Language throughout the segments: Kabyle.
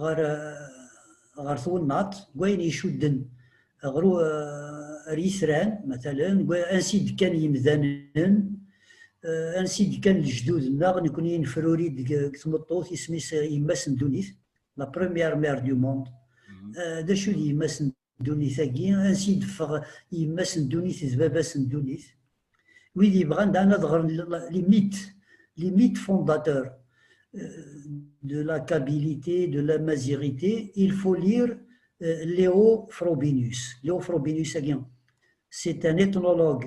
ɣer ɣer twennaḍt n wayen icudden ɣer ar yitran matalen ansi d-kkan yimdanen ansi d-kkan lejdud-nneɣ nekni nefruri-d deg tmeṭṭut isem-is yemma-s n ddunit la première mère du monde d acu d yemma-s n ddunit-agi, ansi d-ffeɣ yemma-s n ddunit d baba-s n ddunit. Wid yebɣan dan ad ɣren les mythes, les mythes fondateurs de la kabilité, de la mazirité, il faut lire Léo Frobinus. Léo Frobinus-agi, c'est un ethnologue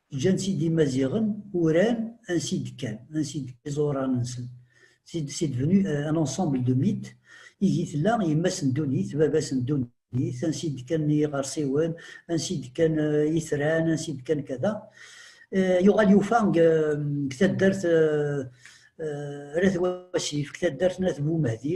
ǧǧan-tt-id imaziɣen uran ansi d-kkan ansi d-kkan iẓuran-nsen c'est devenu euh, un ensemble de mythes ihi tella yemma-s n ddunit baba-s n ddunit ansi d-kkan yiɣersiwen ansi d-kkan euh, itran ansi d-kkan kada euh, yuɣal yufa deg taddart Rat Wasif, deg taddart n At Bumehdi,